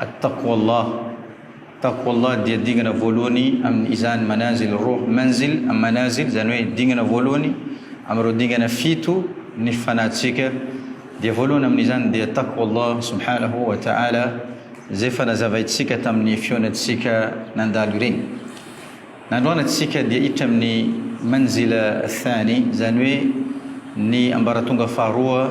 At-taqwa Allah, Taqwa Allah, dia dingana voalohany amin' izany manazil roh, manzil am manazil, izany hoe dingana voalohany amin' ireo dingana fito ny fanahintsika, dia voalohany amin' izany dia Taqwa Allah subhanahu wa ta'ala, izay efa nazavaintsika tamin' ny fihaonantsika nandalo ireny. Ny androanatsika dia hiditra amin' ny manzil ath-thani, izany hoe ny ambaratonga faharoa,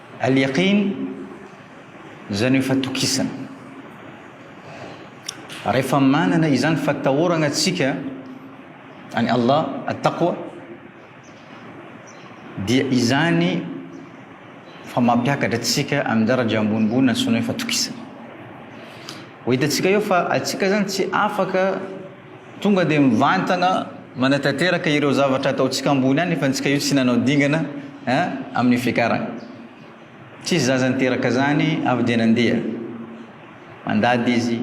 Al-Yaqin, izany hoe fatokisana. Rehefa manana izany fatahoragna tsika an'i Allah, At-Taqwa, dia izany fa mampiakatra antsika amin'ny daraja ambonimbony antsoina hoe fatokisana. Ho hitantsika eo fa antsika zany tsy afaka Tonga dia mivantana manatanteraka ireo zavatra ataontsika ambony any fa antsika io tsy nanao dingana eh amin'ny fiakarana. Tsisy zaza niteraka zany avy dia nandeha. Mandady izy,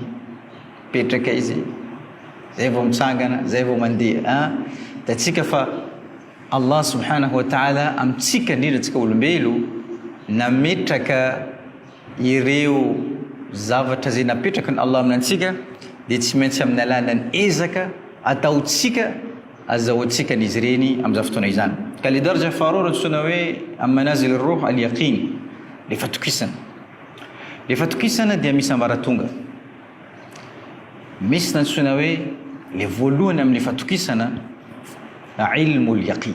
mipetraka izy, zay vao mitsangana, zay vao mandeha eh. Hitantsika fa Allah subhanahu wa ta'ala amintsika indrindra antsika olombelo nametraka Ireo zavatra izay napetraky ny Allah aminantsika dia tsy maintsy amin'ny alalan'ny ezaka ataontsika azahoantsika an'izy ireny amin'izany fotoana izany. Ka ilay darja faharoa no antsoina hoe al-manazil ar-ruh al-yaqin, ilay fatokisana. Ilay fatokisana dia misy ambaratonga. Misy ny antsoina hoe ilay voalohany amin'ny fatokisana ilmul-yaqin.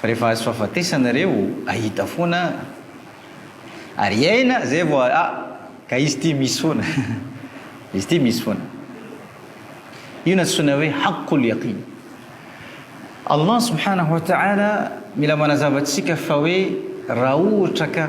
Fa rehefa azo fahafatesana ireo ahita foana ary hiaina zay vao ah ka izy ity misy foana izy ity misy foana io no antsoina hoe haqqul yaqin Allah subhanahu wa ta'ala mila manazava antsika fa hoe raha ohatra ka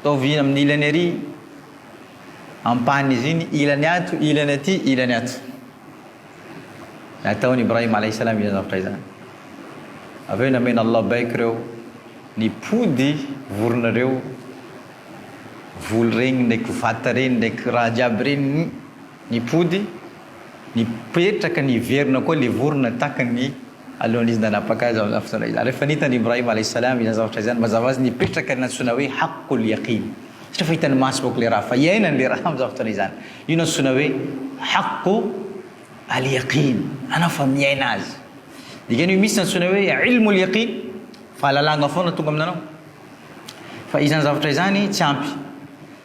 Ataovy amin'ny ilany ary ampahan'izy iny, ilany ato, ilany aty, ilany ato. Nataon'i Ibrahim alayhi salam izany zavatra izany. Avy eo nameno Allah baiko ireo nipody vorona ireo, voly ireny ndraiky vata ireny ndraiky raha jiaby ireny, Nipody, nipetraka, niverina koa ilay vorona takany alohan'izy izy nanapaka azy amin'izany fotoana izany. Rehefa nitany i Ibrahim alaih salam izany zavatra izany, mazava ho azy nipetraka ilay nantsoina hoe haqqul yaqin, satria efa hitan'ny maso bôka ilay raha fa iainany ilay raha amin'izany fotoana izany. Io no antsoina hoe haqqu al yaqin, anao fa miaina azy. Dikany hoe misy antsoina hoe ilmul yaqin, fahalalagna foana tonga amin'anao. Fa izany zavatra izany tsy ampy.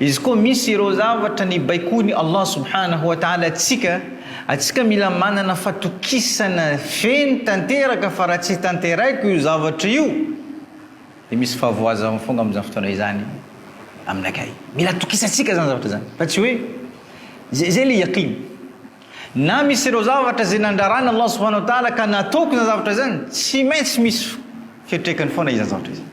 Izy koa misy ireo zavatra nibaikoan'i Allah Subhanahu wa Ta'ala antsika, antsika mila manana fatokisana feno tanteraka fa raha tsy tanteraiko io zavatra io dia misy fahavoazana foana amin'izany fotoana izany aminakay. Mila atokisantsika izany zavatra izany fa tsy hoe izay izay ilay yaqin. Na misy ireo zavatra izay nandrarana Allah Subhanahu wa Ta'ala ka nataoko izany zavatra izany, tsy maintsy misy fiantraikany foana izany zavatra izany.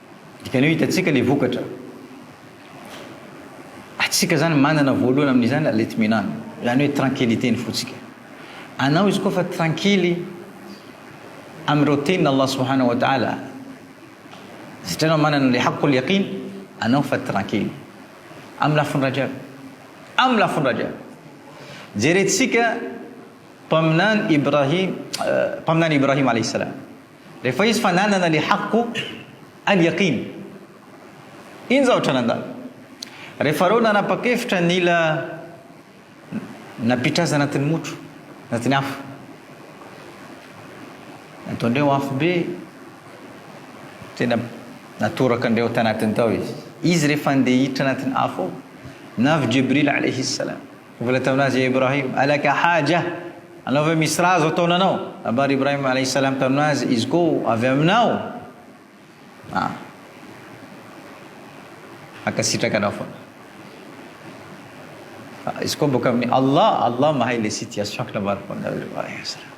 Dikan'io hitantsika le vokatra. Atsika zany manana voalohany amin'izany la l'itminan, zany hoe tranquillité ny fotsika. Anao izy koa fa tranquille amin'ireo tenin' Allah subhanahu wa ta'ala, satria anao manana an'le haqqul yaqin, anao fa tranquille. Amin'ny lafiny raika aby. Amin'ny lafiny raika aby. Jerentsika mpaminany Ibrahim, mpaminany Ibrahim alayhi salam. Rehefa izy fa nanana le haqqu al yaqin. Iny zao atra nandalo. Rehefa reo nanapa-kevitra nila napitraza anatin'ny motro, anatin'ny afo. Nataondreo afo be, tena natoraka andreo tanatiny tao izy. Izy rehefa ndeha hiditra anatin'ny afo ao, navy Jibril alaihi salam. Mbola tamin'azy Ibrahim, Alaka haja? Anao ve misy raha azo ataonanao? Nabary Ibrahim alayhi salam tamin'azy izy ko, Avy aminao? Ah. Mankasitraka anao foana. Fa izy ko boka amin'ny Allah, Allah mahay le situation-ko nabary foana Ibrahim alayhi salam.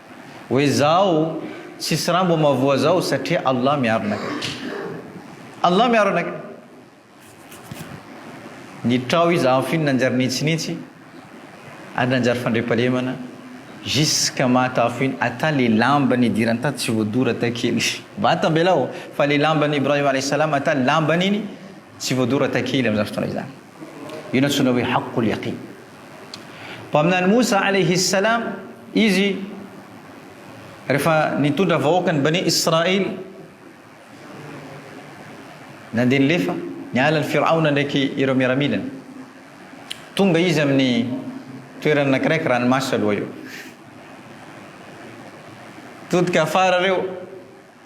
Hoe izaho tsisy raha mbo mavoa zao satria Allah miaro anakay. Allah miaro anakay. Nitrao izy amin'ny finy nanjary nitsinitsy ary nanjary fandriampahalemana jusqu'à maha tafo iny ata le lamba nidirany tato tsy voadora ata kely. Vata ambelao fa le lamban'i Ibrahim alayhi salam ata lambany iny tsy voadora ata kely amin'izany fotoana izany. Io no antsoina hoe haqqul yaqin. Mpaminany Moussa alayhi as-salam izy rehefa nitondra vahoaka ny Bani Israil nandeha nilefa niala an'i Firaona ndraiky ireo miaramilany. Tonga izy amin'ny toerana anakiraiky ranomaso aloha io. Todika afara ireo.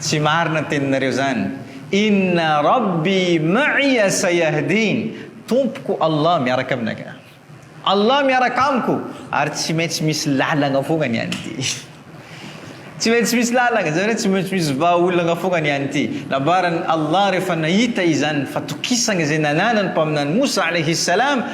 Tsy marina ny teninareo zany. Inna rabbi ma'iya sayahdin, Tompoko Allah miaraka aminaka. Allah miaraka amiko ary tsy maintsy misy lalagna fogna ny any ty. Tsy maintsy misy lalagna, zany hoe tsy maintsy misy vahaolagna fogna ny any ty. Nambaran'i Allah rehefa nahita izany fatokisagna izay nananan'ny Mpaminany Moussa alayhi salam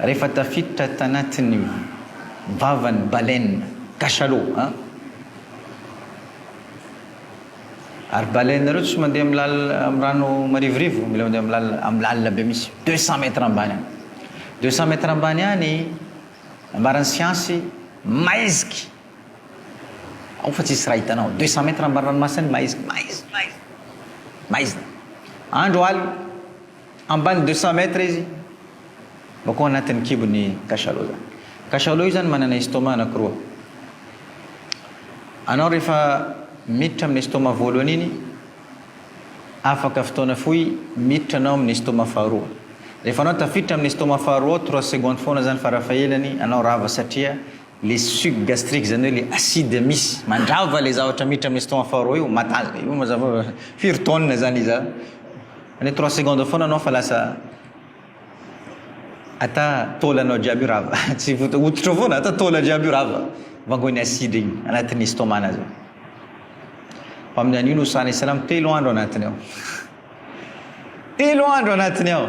Rehefa tafiditra tanatin'ny vavan'ny baleine, cachalot an! Ary baleine ireo tsy mandeha amin'ny lalina, amin'ny rano marivorivo, mila mandeha amin'ny lalina, amin'ny lalina be mihitsy, deux cents mètres ambany any. Deux cents mètres ambany any, nambaran'ny siansy, maiziky! Ao fa tsisy raha hitanao, deux cents mètres ambany ranomasina any, maiziky, maizina, maizina, maizina. Andro alina. Ambany deux cent mètres izy vao koa anatin'ny kibon'ny cachalot zany. Cachalot io zany manana estomac anakiroa. Anao rehefa miditra amin'ny estomac voalohany iny, afaka fotoana fohy miditra anao amin'ny estomac faharoa. Rehefa anao tafiditra amin'ny estomac faharoa ao, trois secondes foana zany farafahelany anao rava satria. Le suc gastrique zany hoe le acide misy mandrava le zavatra miditra amin'ny estomac faharoa io matazh io mazava hoe firy tonnes zany izy zany any trois secondes foana anao fa lasa ata taolanao jiaby io rava tsy vota hoditra foana ata taola jiaby io rava vangoin'ny acide iny anatin'ny estomac-na zany fa amin'ny an'io no sahan'ny salamo telo andro anatiny ao telo andro anatiny ao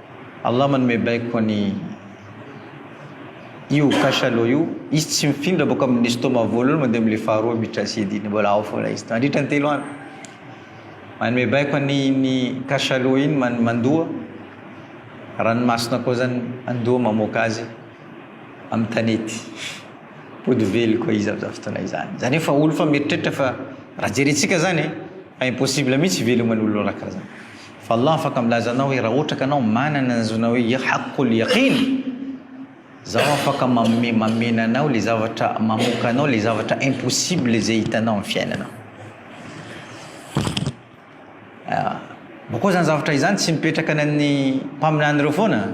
Allah manome baiko an i io cachalot io, izy tsy mifindra boka amin ny estomac voalohany mandeha amin le faharoa miditra acide iny, mbola ao foana izy mandritra ny telo andro, manome baiko an iny cachalot iny man mandoa ranomasina koa zany mandoa mamoaka azy amin ny tanety mipody vely koa izy amin zany fotoana izany, zany hoe fa olo fa mieritreritra fa raha jerentsika zany fa impossible mihitsy hiveloman olona raha karazana. Fa Allah afaka milaza anao hoe raha ohatra ka anao manana ny zona hoe ya haqqul yaqin zaho afaka manome mamena anao le zavatra mamoka anao le zavatra impossible izay hitanao amin'ny fiainanao ah, bokoa zany zavatra izany tsy mipetraka ny mpaminany ireo foana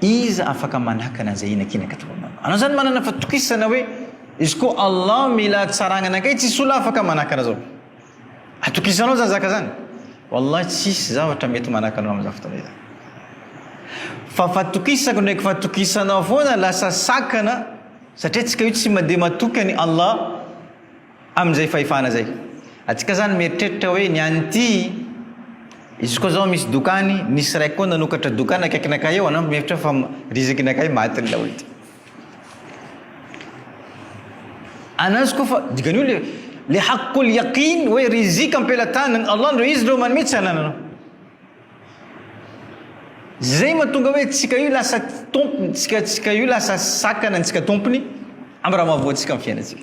Iza afaka manakana an'izay inakinaka toa anao? Anao zany manana fatokisana hoe izy koa Allah mila hatsaragnana kay tsisy olona afaka manakana zao. Atokisanao zany zaka zany? Wallahy tsisy zavatra mety manakana anao amin'izany fotoana izany. Fa fatokisako ndraiky fatokisanao foana lasa sakana satria antsika io tsy mandeha matoky an'i Allah. Amin'izay fahefana izay. Antsika zany mieritreritra hoe ny an'ity, izy koa zao misy doka any, nisy raiky koa nanokatra doka any akaikinakay eo, anao mihevitra fa rizakinakay matin'ny laolo ty. Anazy koa fa dikany io le le haqqul yaqin hoe rizika am-pelatanan'i Allah ndreo izy ndreo manome tsy anananao. Zay mahatonga hoe tsika io lasa tompony, tsika tsika io lasa sakana antsika tompony amin'ny raha mahavoa antsika amin'ny fiainantsika.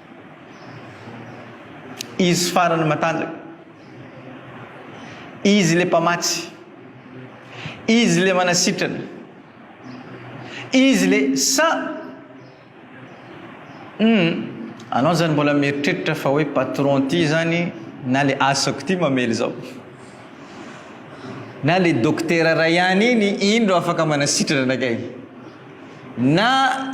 Izy farany matanjaka. Izy le mpamatsy. Izy le manasitrana. Izy le sa mm, anao zany mbola mieritreritra fa hoe patron ty zany na le asako ty mamely zao. Na le dokotera ray any iny indro afaka manasitrana anakay. Na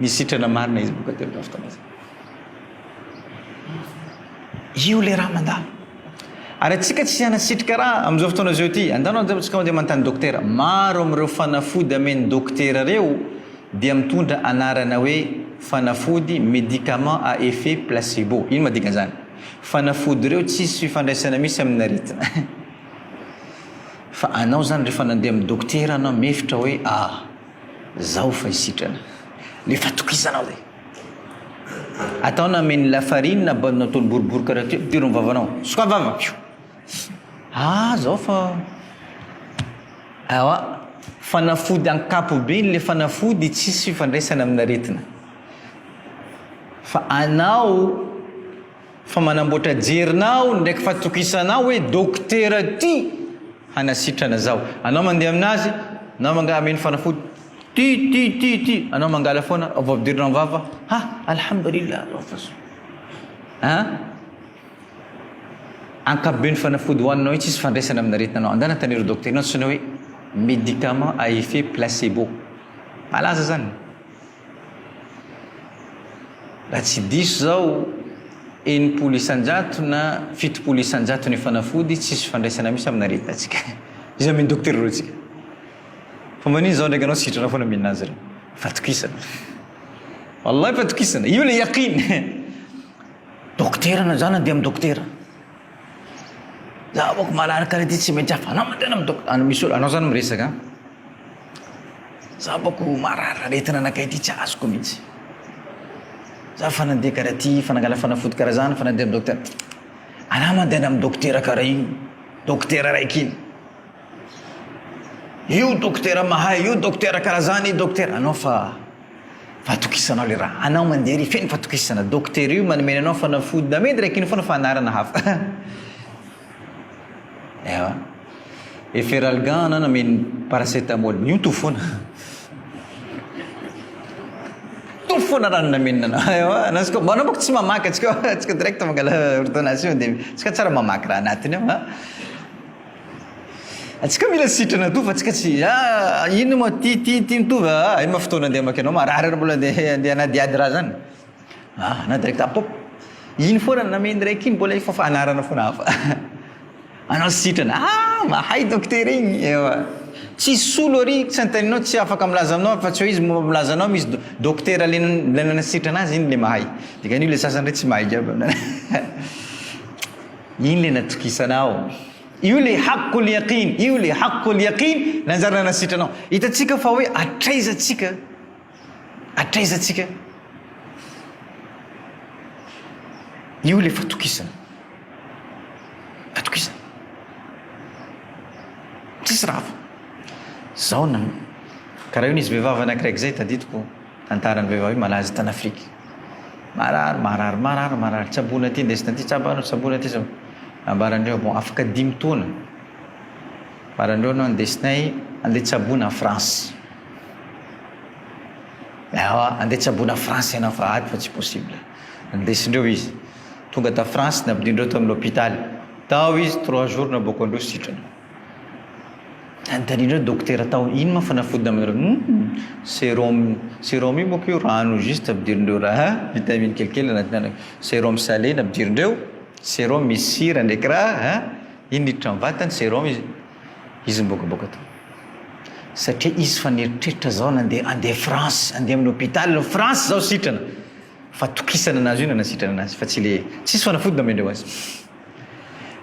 Misy sitrana marina izy boka telo tamin'ny fotoana izay. Io ilay raha mandalo. Ary antsika tsy hanasitrika raha amin'izao fotoana izao ity. Andao no antsika mandeha manontany dokotera. Maro amin'ireo fanafody amen'ny dokotera ireo dia mitondra anarana hoe fanafody médicament à effet placebo. Inona moa dikan'izany? Fanafody ireo tsisy fifandraisana misy amin'ny aretina. Fa anao izany rehefa nandeha amin'ny dokotera anao mefitra hoe ah. Zao fa isitrana le fatokisana hoe. Atao na menu lafarine na baolina ataony boribory karaha ty, ampidiro ny vavanao, sokafy vava, fiu. Ah zao fa. Ewa, fanafody ankapobeny le fanafody tsisy fifandraisana amin'aretina. Fa anao. Fa manamboatra jerina aho ndraiky fatokisanao hoe dokotera ty hanasitrana zaho. Anao mandeha aminazy, anao manga ameno fanafody, ty ty ty ty anao mangala foana vao ampidirinao am vava, ha alhamdulillah rah fa soa. An? Ankapobeny fanafody hoaninao io tsisy fandraisana amina aretina anao. Andana taniro dokotera ino antsoina hoe médicament à effet placebo. Malaza zany. Raha tsy diso zao, enimpolo isanjato na fitopolo isanjato ny fanafody, tsisy fifandraisana misy amina aretinantsika. Iza mino docteur reo tsika. Fa manino zao ndraiky anao sitrana foana mihinana azy reo. Fatokisana. Wallahi fatokisana. Io le yaqin. Docteur na zany ande am docteur. Za boko malalaka le ty tsy mety afa anao mandeha any am docteur. Anao zany miresaka an. Za manko marary aretina anakay ty tsy azoko mintsy. Za fa nandeha karaha ty fa nangala fanafody karaha zany fa nandeha am docteur ana mandehana am dokotera karaha io dokotera raiky iny io dokotera mahay io dokotera karaha zany io dokotera anao fa fatokisanao le raha anao mandeha ery feno fatokisana dokotera io manome anao fanafody namidy raiky iny fona fa anarana hafa Ewa. Et Feralgan ana nameno paracetamol. Mioto foana. Mioto foana raha ny nameno ana. Ewa, na tsika mba anao tsy mamaky atsika atsika direct mangala ordonnation dia tsika tsara mamaky raha anatiny ao. Atsika mila sitrana toa fa atsika tsy ah inona moa ty ty ty mitovy ah inona fotoana andeha mamaky anao marary ary mbola andeha andeha hanadihady raha zany. Ah, na direct app aho. Iny foana no nameno raiky iny mbola efa fa anarana foana hafa. Anao sitrana. Ah, mahay dokotera igny. Ewa. Tsisy solo ary tsy anteninao tsy afaka milaza aminao afa tsy hoe izy momba milaza anao misy dokotera le le nanasitrana azy iny le mahay. Dikan'io le sasany re tsy mahay jiaby. Iny le natokisanao. Io le haqqul yaqin, io le haqqul yaqin nanjary nanasitranao. Hitantsika fa hoe hatraiza tsika Hatraiza tsika? Io ilay fatokisana. Fatokisana. Tsisy raha hafa. Zao na karaha io nisy vehivavy anankiray izay tadidiko tantaran'ny vehivavy malaza tany Afrika. Marary, marary, marary, marary. Tsaboina aty, ndesina aty, tsabana, tsaboina aty, tsabana. Nambaran'ireo bon afaka dimy taona. Nambaran'ireo no ndesinay andeha tsaboina en France. Ewa andeha tsaboina France ianao fa ady fa tsy possible. Nindesindreo izy. Tonga ta France nampidirindreo tao amin'ny hôpitaly. Tao izy trois jours naboako androso sitrana. Nanontanian'ireo dokotera tao ino ma fanafody namanareo? Hum, serum, serum io manko io rano juste ampidirindreo ra ha, vitamine kelikely anaty rano. Serum salé nampidirindreo, serum misy sira ndraiky ra ha, iny niditra amin'ny vatany serum izy. Izy mibokaboka tao. Satria izy fa nieritreritra zao nandeha andeha France, andeha amin'ny hôpital France zao sitrana. Fatokisana anazy io no nanasitrana anazy fa tsy le tsisy fanafody namendreo azy.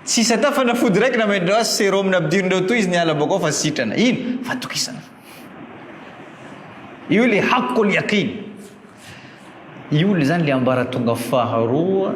Tsy sata fanafody raiky namendreo azy, sérum nampidirindreo toa izy niala bôka ao fa sitrana. Ino? Fatokisana. Io le hakoliaka iny. Io le zany le ambaratonga faharoa.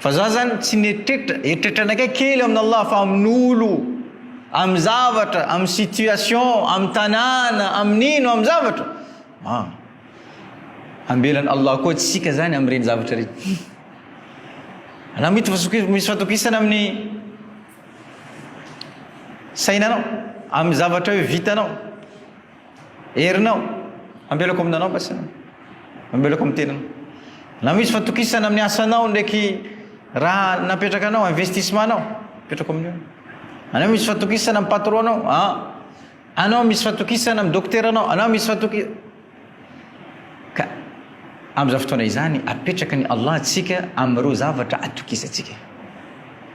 Fa za zany tsy netretra, eritreritranakay kely amin' Allah fa amin' olo, amin' zavatra, amin' situation, amin' tanàna, amin' ino, amin' zavatra ah! Ambelan' Allah koa tsika zany amin' ireny zavatra ireny. Anao mety fa misy fatokisana amin' ny sainanao, amin' ny zavatra hoe vitanao. Herinao. Ambelako aminanao masina. Ambelako amin'ny tenanao. Na misy fatokisana amin'ny asanao ndraiky raha napetraka anao, investissement anao, apetrako amin'io. Anao misy fatokisana amin'ny patron anao, ah. Anao misy fatokisana amin'ny dokotera anao, anao misy fatokisana. Ka amin'izany fotoana izany apetraka ny Allah antsika amin'ireo zavatra atokisantsika.